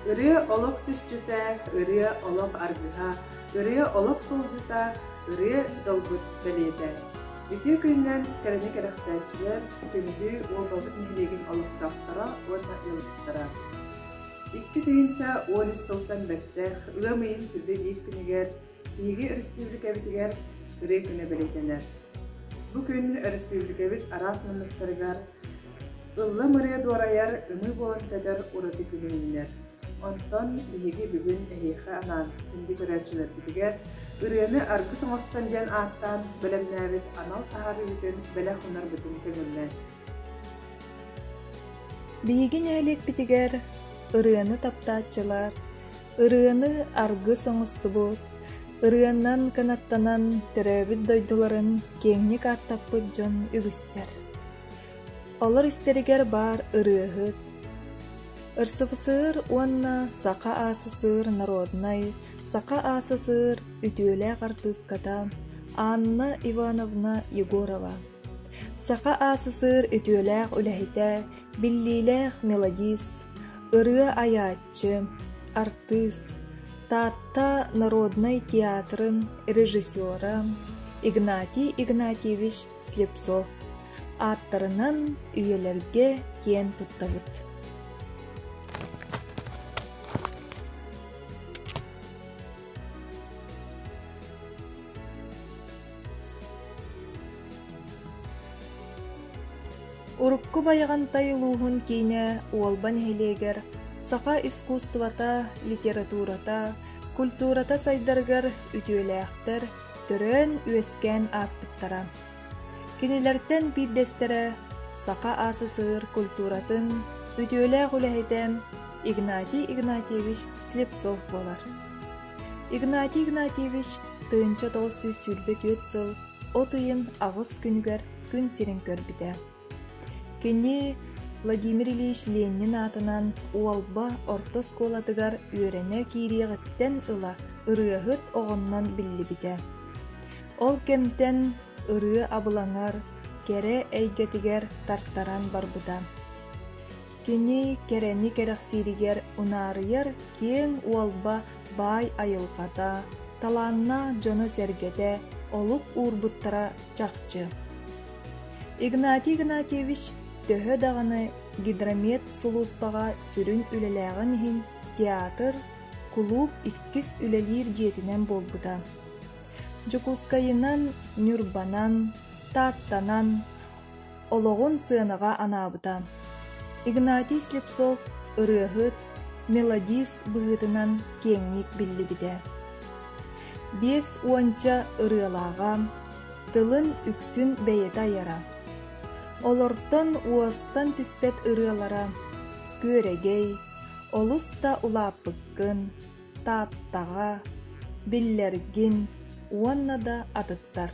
Ырыа олох түсчүтэ, ырыа олох аргыһа, ырыа олох сылдьыта, ырыа дьолбут бэлиэтэ. Ити күннэн кэрэни кэрэхсээччилэр күндү уолбабыт нэһилиэгин олохтоохторо уонна ыалдьыттара. Икки тыһыынча уон үс сылтан бэртэх ыам ыйын сүргэ биир күнүгэр Биһиги өрөспүүбүлүкэбитигэр ырыа күнэ бэлиэтэнэр. Бу күн өрөспүүбүлүкэбит араас муннуктарыгар ыллым ырыа дуорайар ымыы буолан кэтэр ураты күнү үүнэр. Онтон биһиги бүгүн эһиэхэ анаан күндү көрөөччүлэрбитигэр ырыаны аргыс оҥостон диэн ааттаан бэлэмнээбит анал таһаарыытын бэлэх гынарбытын көҥүллэн. Биһиги нэһилиэкпитигэр ырыаны таптааччылар Ырыаны аргыс оҥостубут, ырыанан кынаттанан төрөөбүт дойдуларын киэҥник ааттаппыт дьон үгүстэр. Олор истэригэр баар ырыаһыт, РСФСР уонна Саха АССР народнай, Саха АССР үтүөлээх артыыската Анна Ивановна Егорова. Саха АССР үтүөлээх үлэһитэ Биллиилээх мелодист, ырыа айааччы, артыыс, Таатта народнай театрын режиссера Игнатий Игнатьевич Слепцов ааттарынан үйэлэргэ киэн туттабыт Урукку Байаҕантай улууһун киинэ Уолба нэһилиэгэр саха искусствота, литературата, культурата сайдарыгар үтүөлээхтэр төрөөн-үөскээн ааспыттара. Кинилэртэн биирдэстэрэ саха СССР культуратын үтүөлээх үлэһитэ Игнатий Игнатьевич Слепцов буолар. Игнатий Игнатьевич тыһыынча тоҕус сүүс сүүрбэ түөрт сыл от ыйын аҕыс күнүгэр күн сирин көрбүтэ. Кини Владимир Ильич Ленин аатынан Уолба орто оскуолатыгар үөрэнэ киириэҕиттэн ыла ырыаһыт оҕоннон биллибитэ. Ол кэмтэн ырыа абылаҥар, кэрэ эйгэтигэр тартаран барбыта. Кини кэрэни кэрэхсииригэр унаарыйар киэҥ уолба баай айылҕата, талааннаах дьоно-сэргэтэ олук уурбуттара чахчы. Игнатий Игнатьевич төһө даҕаны гидромет сулууспаҕа сүрүн үлэлээҕин иһин театр, кулууп иккис үлэлиир дьиэтинэн буолбута. Дьокуускайынан, Ньурбанан, Тааттанан, олоҕун сыанаҕа анаабыта. Игнатий Слепцов ырыаһыт, мелодист быһыытынан киэҥник биллибитэ. Биэс уонча ырыалааҕа, тылын үксүн бэйэтэ айара. Олортон уостан түспэт ырыалара күөрэгэй, олус да улааппыккын, Тааттаҕа, биллэргин уонна да атыттар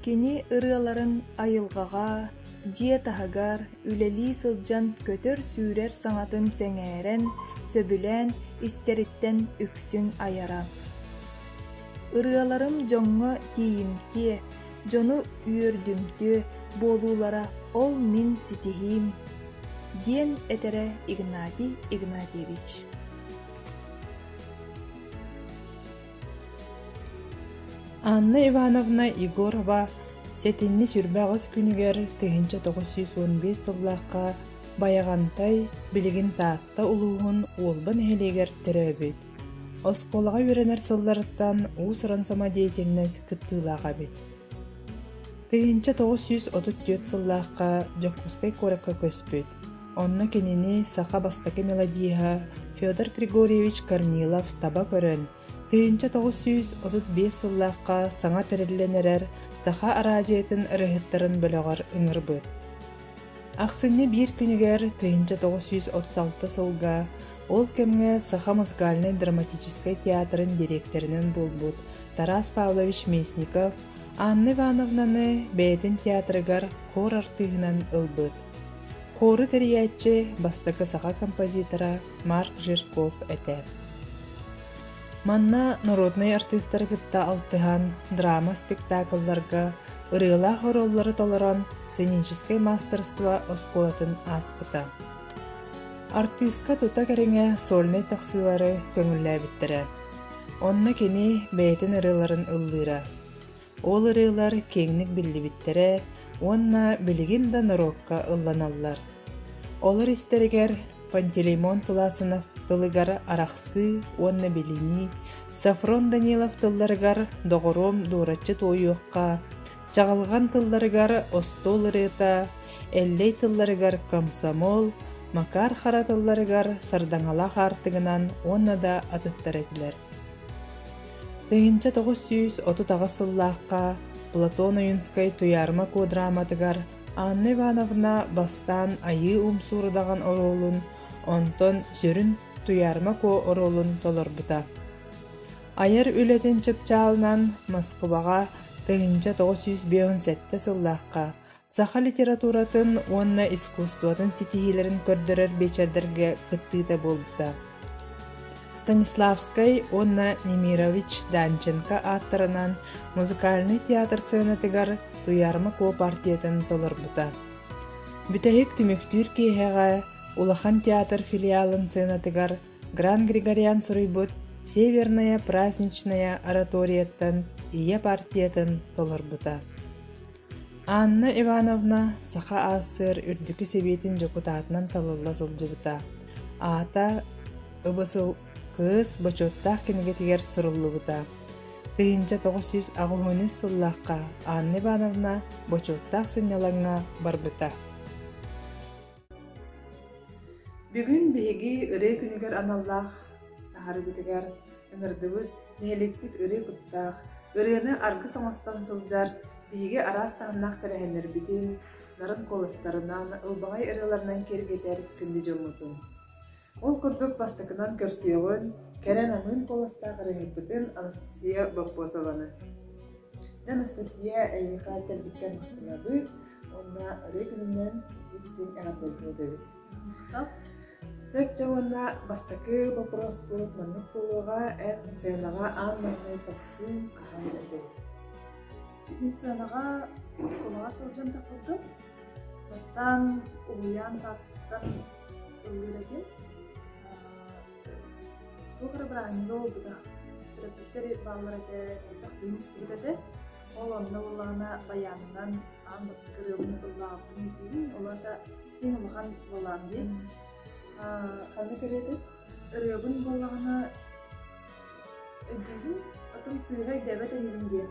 Кини ырыаларын айылҕаҕа, дьиэ таһыгар үлэлии сылдьан көтөр-сүүрэр саҥатын сэҥээрэн, сөбүлээн истэриттэн үксүн айара. Ырыаларым дьоҥҥо тиийимтиэ, дьону үөрдүмтүө буолуулара ол мин ситиһиим диэн этэрэ Игнатий Игнатьевич Анна Ивановна Егорова сэтинньи сүрбэҕис күнүгэр тыһыынча тоҕус сүүс уон биэс сыллаахха Байаҕантай билигин Таатта улууһун Уолба нэһилиэгэр төрөөбүт Оскуолаҕа үөрэнэр сылларыттан уус-уран самодеятельность кыттыылаах эбит. Тыһыынча тоҕус сүүс отут түөрт сыллаахха Дьокуускай куоракка көспүт. Онно кинини саха бастакы мелодиһа Федор Григорьевич Корнилов таба көрөн, тыһыынча тоҕус сүүс отут биэс сыллаахха саҥа тэриллэн эрэр саха араадьыйатын ырыаһыттарын бөлөҕөр ыҥырбыт. Ахсынньы биир күнүгэр тыйынча тоҕус сүүс отут алта сылга ол кэмҥэ Саха музыкальнай драматическай театрын дириэктэринэн буолбут Тарас Павлович Местников Анна Ивановнаны бэйэтин театрыгар хор артыыһынан ылбыт. Хору тэрийээччи бастакы саха композитора Марк Жирков этэ. Манна норуодунай артыыстары кытта алтыһан, драма спектаклларга ырыалаах ороллору толорон сценическэй маастарство оскуолатын ааспыта. Артыыска тута кэриҥэ сольнай тахсыылары көҥүллээбиттэрэ. Онно кини бэйэтин ырыаларын ыллыыра. Ол ырыалар киэҥник биллибиттэрэ уонна билигин да норуокка ылланаллар. Олор истэригэр Пантелеймон Туласынов тылыгар арахсыы уонна билинии, Сафрон Данилов тылларыгар доҕоруом дуораччы туойуохха, чаҕылҕан тылларыгар остуол ырыата, эллэй тылларыгар комсомол, Макар Хара тылларыгар сардаҥалаах аартыгынан уонна да атыттар этилэр. Тыһыынча тоҕус сүүс отут аҕыс сыллаахха Платон Ойуунскай «Туйаарыма куодраматыгар» Анна Ивановна бастаан Айыы Умсуурудаҕын оруолун, онтон сүрүн Туйаарыма Куо оруолун толорбута. Айар үлэтин чыпчаалынан Москубаҕа тыһыынча тоҕус сүүс биэһун сэттэ сыллаахха Саха литературатын уонна искусствотын ситиһиилэрин көрдөрөр биэчэрдэргэ кыттыыта буолбута. Станиславскай уонна Немирович Данченко ааттарынан музыкальнай театр сыанатыгар Туйарма куопартиятын толорбута. Бүтэһик түмүктүүр киэһэҕэ Улахан театр филиалын сыанатыгар Гран Григорян суруйбут Северная праздничная ораторияттан ийэ партиятын толорбута. Анна Ивановна Саха АССР Үрдүкү Сэбиэтин дьокутаатынан талылла сылдьыбыта. Аата ыбысыл кыыс бочуоттаах кинигэтигэр суруллубута. Тыһыынча тоҕус сүүс аҕыс үс сыллаахха Анна Ивановна бочуоттаах сынньалаҥҥа барбыта. Бүгүн биһиги ырыа күнүгэр аналлаах таһарыыбытыгар ыҥырдыбыт, нэһиликпит ырыа куттаах, ырыаны аргыс оҥостон сылдьар биһиги араас таһымнаах тэрээһиннэрбитин, нарын куоластарынан, ылбаҕай ырыаларынан киэргэтэр күндү дьоммутун. Ол курдук бастакынан көрсүөҕүн, кэрэн аҥыын куоластаах ырыаһыппытын Анастасия Боппосованы. Анастасия эйиэхэ кэлбиттэн махтанабыт уонна ырыа күнүнэн истиҥ эҕэрдэлиир эбит. Сөпчө уонна бастакы боппуруоспут маннык буолуоҕа, эн сценаҕа аан маҥнай таксиҥ хаһан этэй? Мин сценаҕа оскуолаҕа сылдьан тахпыппын. Бастаан уһуйаан сааспыттан өлүөнэтин туох эрэ бырааһынньыга буолбута төрөппүттэри бааллар этэ элбэх киһи мустубут этэ ол онно буоллаҕына байаанынан аан бастакы ырыабын ыллаабытын ирдиирим ол аата иң улахан буолаан дии ханна кэриэтэ ырыабын буоллаҕына өйдүүбүн атын сыыһа өйдөөбөт инибин диэн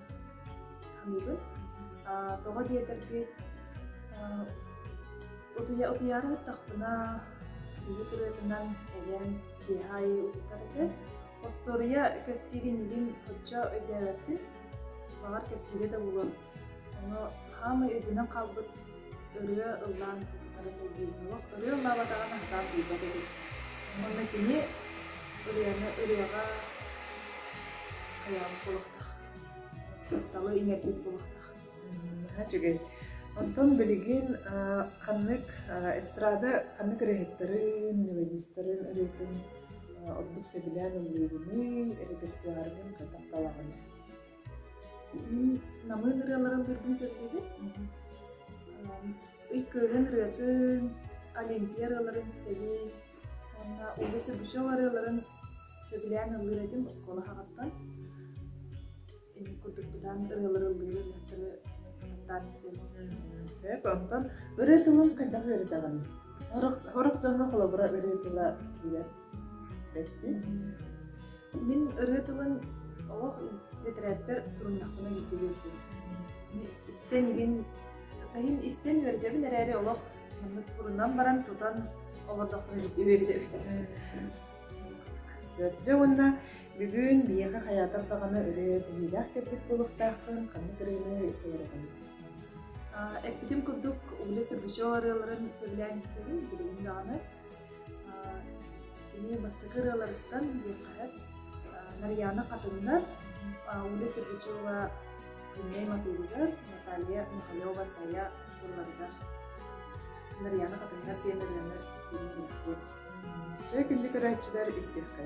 аныгы тоҕо диэтэр үчүгэй утуйа утуйаары баттахпына биһи ырыатынан эбэм киэһэ аайы утуйтарытыар остуоруйа кэпсиирин илин оччо өйдөөбөппүн баҕар кэпсиирэ да буолуо ону хаамай өйдөнөн хаалбыт ырыа ыллаан ырыа ыллаабатаҕына сатаан билбэт этим уонна кини ырыаны ырыаҕа хайаҕын кулахтах тапталы иҥэрбит кулахтах үчүгэй онтон билигин ханнык эстрада ханнык ырыаһыттарын мелодистарын ырыатын ордук сөбүлээн ыллыыгыный репертуаргын хатык талаҕын намы ырыаларын быһыытын сөбүлүүбүт ыккыыһын ырыатын олимпия ырыаларын стэбий уонна улус үгүсү ырыаларын сөбүлээн ыллыыр этим оскуола хаҕаттан курдукпутаан ырыалары ыллыыр ырыаттары таан истэбит сөп онтон ырыы тылын хайдах үөрэтэҕин хорох дьоҥҥо холобура ырыы тыла киирэр Бэртин. Мин ырыа тылын олох литэрээппэр суруйдахпына биирдэ үөрдүм. Истэн игин таһин истэн үөрдэбин эрээри олох маннык турунан баран тутан олордохпуна үөрдэбит. Сырдьа уонна бүгүн биһиэхэ хайаатар даҕаны ырыа биһиилээх кэлбит буолуохтаахпын ханнык ырыаны толоробун? Эппитим курдук, Уля Сербычева ырыаларын сөбүлээн истэбин, билигин даҕаны Кини бастакы ырыаларыттан диэххэ сөп Нарияна Хатунна, Уля Сердючева күннэй матыыбыгар, Наталья Михалева-Сая тылларыгар Нарияна Хатунна диэн ырыаны фильмигэр Чөй күндү көрөөччүлэр истиэххэ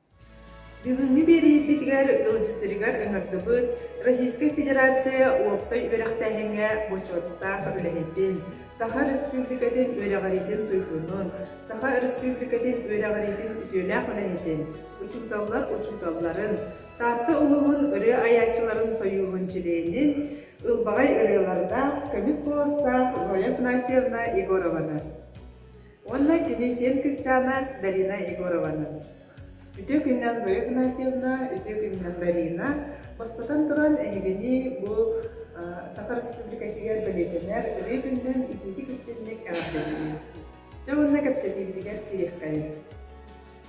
Бүгүҥҥү биэриитгитигэр ыалдьыттарыгар ыҥырдыбыт Российскай Федерация уопсай үөрэхтээһиҥҥэ бочуоттаах үлэһитин, Саха Өрөспүүбүлүкэтин үөрэҕириитин туйгунун, Саха Өрөспүүбүлүкэтин үөрэҕириитин үтүөлээх үлэһитин, учууталлар учууталларын, Таатта улууһун ырыа айааччыларын сойууһун чилиэнин, ылбаҕай ырыалардаах, көмүс куоластаах Зоя Афанасьевна Егорованы, Уонна кини сиэн кысчаана Дарина Егорованы. Үтүө күннэн Зоя Игнатьевна, үтүө күннэн Дарина. Бастатан туран, эһигини бу Саха Республикатыгар бэлиэтэнэр ырыы күннэн итиитик истинник эҕэрдэлиибин. Дьэ уонна кэпсэтиибитигэр киириэххэйин.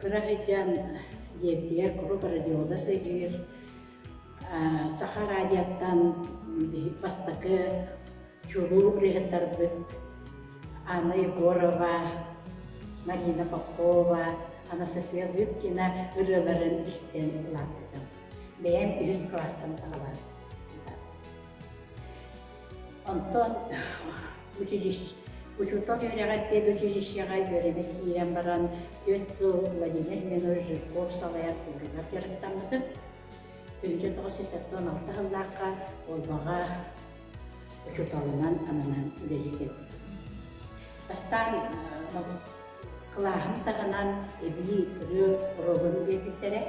Кыра эдьээм дьиэтигэр куруук радиода өйүүр, саха радиоттан бастакы чулуу ырыһыттарбыт Анна Егорова, Марина Попова, Анастасия Лыткина ырыаларын истэн улааппытым. Бэйэм үһүс кылаастан саҕалаабытым. Онтон учуутал үөрэҕэр училищеҕа үөрэнэ киирэн баран түөрт сыл Владимир Ленонович Жирков салайааччыларыгар дьарыктаммытым. Birinci тоҕус алта сыллаахха Олбаҕа учууталынан ананан үлэлии кэлбитим. Бастаан кылааһым таһынан эбии ырыа оруолун биэрбиттэрэ.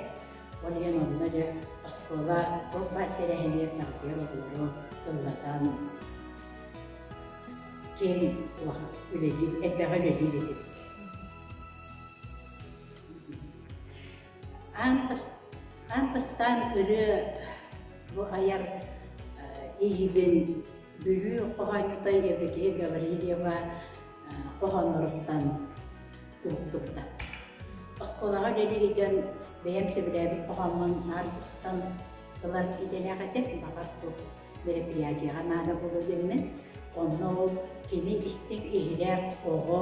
Ол иһин онно дьэ оскуола туох баар тэрээһинигэр таҥтыйан олоруон, ыллатан, ким үлэлиир, элбэҕи үлэлиир этим. Аан, аан бастаан ырыа бу айар иһибин Бүлүү хоһоонньута Евдокия Гаврильева хоһоонноруттан уһуктубута. Оскуолаҕа дьиэ илдьэн бэйэм сөбүлээбит хоһооммун наар устан ылар идэлээх этим. Баҕар бу мероприятияҕа наада буолуо диэммин. Онно ол кини истиҥ иһирэх оҕо,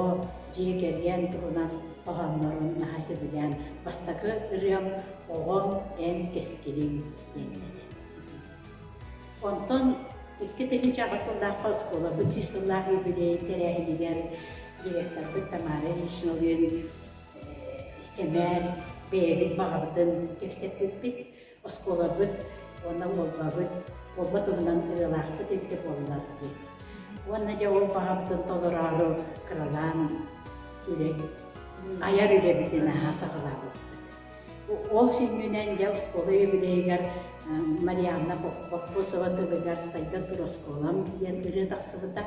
дьиэ кэргэн туһунан хоһооннорун наһаа сөбүлээн бастакы ырыам «Оҕо, эн кэскилиҥ» диэн этэ. Онтон икки тыһыынча аҕыс сыллаахха оскуола быччыш сыллаах юбилей тэрээһинигэр директорбыт Тамара Ильична Өлүөн истэмээр бэйэбит баҕабытын кэпсэппиппит. Оскуолабыт уонна уолбабыт уолба туһунан ырыалаахпыт инде буоллар диэн. Уонна дьэ ол баҕабытын толороору кыралаан үлэ, айар үлэбитин аһа саҕалаабыппыт. Ол сүнньүнэн дьэ оскуола юбилейыгар Марианна Поппосова тылыгар Сайдар туроскуолам диэн ырыа тахсыбыта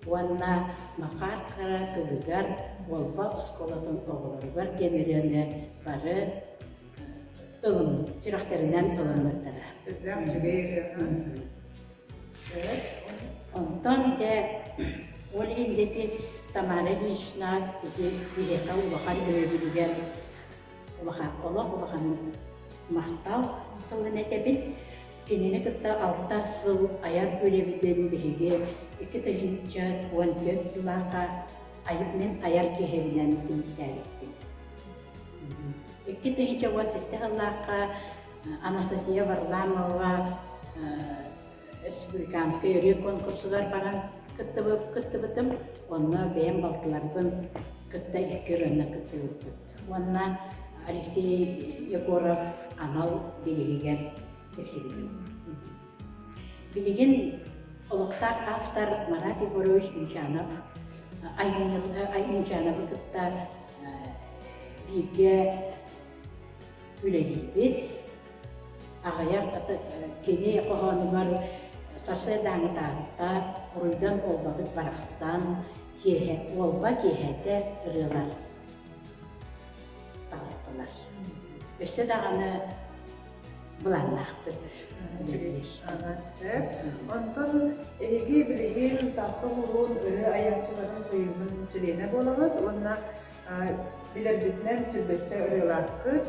уонна Макаар Хара тылыгар Уолба оскуолатын оҕолоругар диэн ырыаны бары ылыммыт, сүрэхтэринэн ылыммыттара. Сырдаах үчүгэй ырыа. Онтон дьэ ол индити Тамара Ильинична ити биһиэхэ улахан өйөбүлүгэр улахан олох улахан махтал тылын этэбин. Кинини кытта алта сыл айар үлэбитин биһиги икки тыһыынча уон түөрт сыллааха мен айар киһибинэн иитээбиппит. Икки тыһыынча уон сэттэ сыллаахха Анастасия Варламова республиканскай ырыа конкурсугар баран кыттыбытым. Онно бэйэм балтыларбын кытта икки ырыаны кыттыбыппыт. Уонна Алексей Егоров анал бирииһигэр тиксибитим. Билигин олохтоох автор Марат Егорович Мичанов Айымньылы кытта бииргэ үлэлиибит. Аҕыйах кини хоһоонугар сарсыардааҥы Таатта уруйдан буолбабыт барахсан киэһэ уолба киэһэтэ ырыалар таҕыстылар. Өссө даҕаны былааннаахпыт. Онтон эһиги билигин Таатта Муруун ырыа айааччыларын союһун чилиэнэ буолаҕыт уонна Билэрбитинэн сүлбэччэ ырыалаахтык.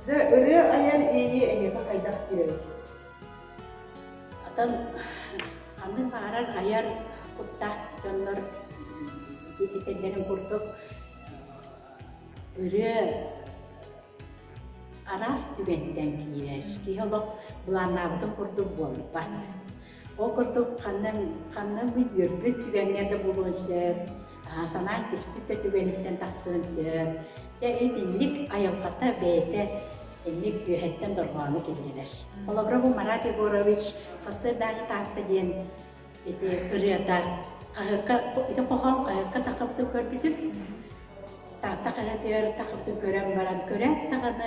Дьэ, ырыа айар иэйии эйиэхэ хайдах киирэрий? Оттон ханнык баҕарар айар куттаах дьоннор этэллэрин курдук ырыа араас түгэнтэн киирэр. Киһи олох былааннаабытын курдук буолбат. Ол курдук ханнан ханнан мин үөрбүт түгэҥҥэ да буолуон сөп, санаан кэспит да түгэниттэн тахсыан сөп. Дьэ итинник айылҕата бэйэтэ инник үөһэттэн дорҕооно киллэрэр. Холобура бу Марат Егорович сарсыарда аайы Таатта диэн ити ырыата хаһыакка ити хоһоон хаһыакка тахыппытын көрбүтүм. Таатта хаһыатыгар тахыппытын көрөн баран көрөөт даҕаны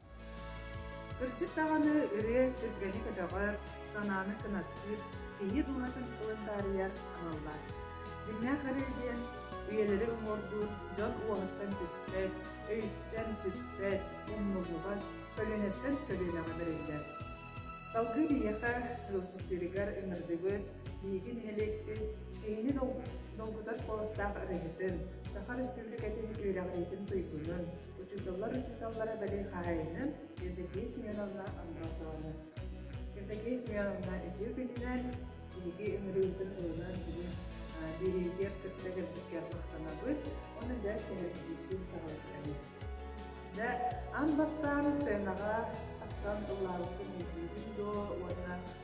Кырдьык даҕаны ырыа сүргэни көтөҕөр, санааны кынаттыыр, киһи дууһатын тылын таарыйар аналлаах. Дьиҥнээх арыы диэн үйэлэри уҥуордуур дьон уоһуттан түспэт, өйүттэн сүппэт, умнуллубат көлүөнэттэн көлүөнэҕэ бэриллэр. Салгыы биһиэхэ Люксүфилигэр ыҥырдыбыт биһиги нэһилиэкпит киһини долгутар куоластаах ырыаһытын, Саха Республикатын үөрэҕириитин туйгунун, учууталлар-учууталлара бэлиэ хаһаайынын Евдокия Семеновна Амбразова. Евдокия Семеновна үтүө күнүнэн биһиги ыҥырыыбытын ылынан бүгүн бириитигэр кытта кэлбиккэ махтанабыт уонна дьэ сэһэргиирбит саҕалыктабыт. Дьэ, ан бастаан сценаҕа тахсан ыллаабыккын билбиитин дуо уонна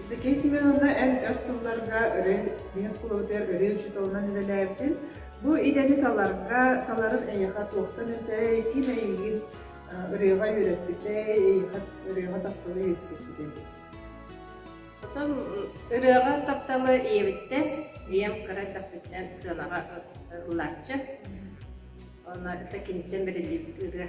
Евдокия Семеновна эр-өр сылларга өрө Ленинскай куолабытыгар өрө учууталынан үлэлээбитин, бу идэни таларга, таларын эйиэхэ туохтан этэй, ким эйигин ырыаҕа үөрэппитэй, эйиэхэ ырыаҕа тапталы үөскэппитэй? Ырыаҕа тапталы ийэбиттэн, ийэм кыра эрдэхпиттэн сыанаҕа ыллааччы. Онно это киниттэн бэриллибит ырыа.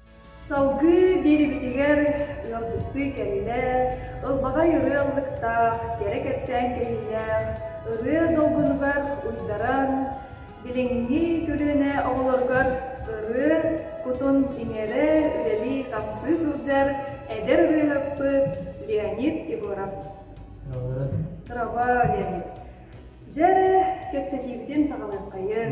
Салгыы биэрэбитигэр ыалдьыттыы кэллэ, ылбаҕай ырыа ыллыктаах, кэрэ кэпсээн кэһиилээх ырыа долгунугар уйдаран, билиҥҥи көлүөнэ оҕолоругар ырыа кутун иҥэрэр, үлэлии-хамсыы сылдьар эдэр ырыаһыппыт Леонид Егоров. Проба, Леонид. Дьэ эрэ, кэпсэтиибитин саҕалыаххайыҥ.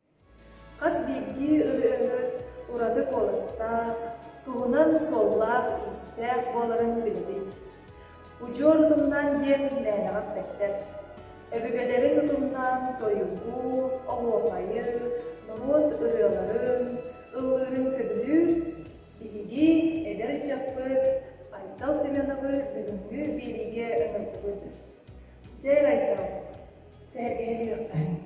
Хас биирдии ырыаһыт ураты куоластаах, туһунан суоллаах-иистээх буоларын биллит. Удьуор утумнаан диэн мээнэҕэ эппэттэр. Өбүгэлэрин утумнаан тойугу, оһуохайы, норуот ырыаларын, ыллыырын сөбүлүүр биһиги эдэр ыччаппыт Айтал Семеновы бүгүҥҥү биэриигэ ыҥырдыбыт. Дьэ, Айтал, сэһэргэһин үһүөххэ.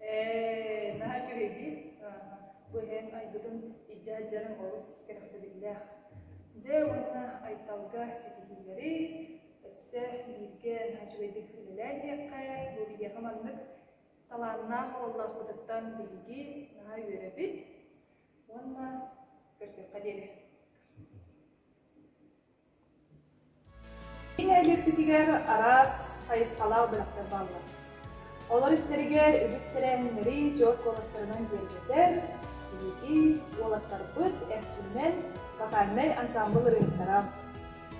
Ээ, наһаа үчүгэйдии. Бу иһэн айбытым илдьэ сылдьарым олус кэрэхсэбиллээх. Дьэ уонна Айталга ситиһиилэри, өссө бииргэ наһаа үчүгэйдик үлэлээн иһиэххэ, бу биһиэхэ маннык талааннаах уоллаахпытыттан биһиги наһаа үөрэбит уонна көрсүөххэ диэри. Кини эдьиийбитигэр араас хайысхалаах бөлөхтөр бааллар. Олор истэригэр үгүс тэрээһиннэри дьор куоластарынан киэргэтэр биһиги уолаттарбыт эрчимнэн вокальнай ансаамбыл ырыаһыттара.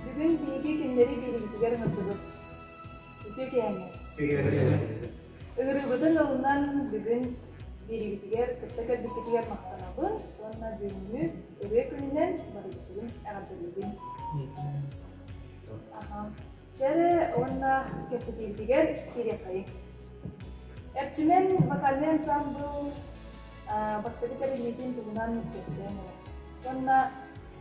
Бүгүн биһиги кинилэри биһигитигэр ыҥырдыбыт. Үтүө киһэҥҥэ. Ыҥырыыбытын ылынан бүгүн биэриибитигэр кытта кэлбиккитигэр махтанабын уонна бүгүҥҥү ырыа күнүнэн барыбытын эҕэрдэлиибин. Аха. Чэ эрэ уонна кэпсэтиибитигэр кириэхэйиҥ. Эрчимэн вокальный ансамбыл бастакы тэриллиитин туһунан кэпсээн олор. Уонна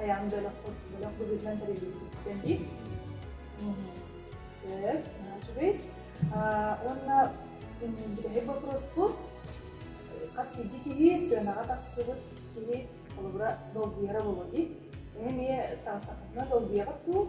Айаан бөлөх бөлөх быһыытынан тэриллибиттэн ит. Сөп, үчүгэй. Уонна бүтэһик боппуруоспут хас биирдии киһи сыанаҕа тахсыбыт киһи холобура долгуйара буолуо ит. Эмиэ таастахына долгуйаҕыт дуу?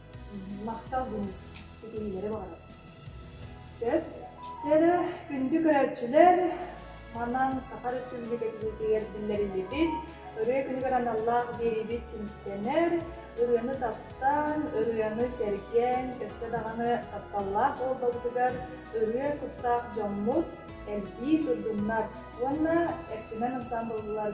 Махтал гыныс, ситиһиилэри баҕарабын. Сөп. Чэрэ, күндү көрөөччүлэр, манан Саха Республикатыгар биллэриллибит ырыа күнүгэр аналлаах биэриибит түмүктэнэр. Ырыаны таптаан, ырыаны сэргэн, өссө даҕаны тапталлаах буолбабытыгар ырыа куттаах дьоммут, элбии турдуннар уонна Эрчимэн ансамблылар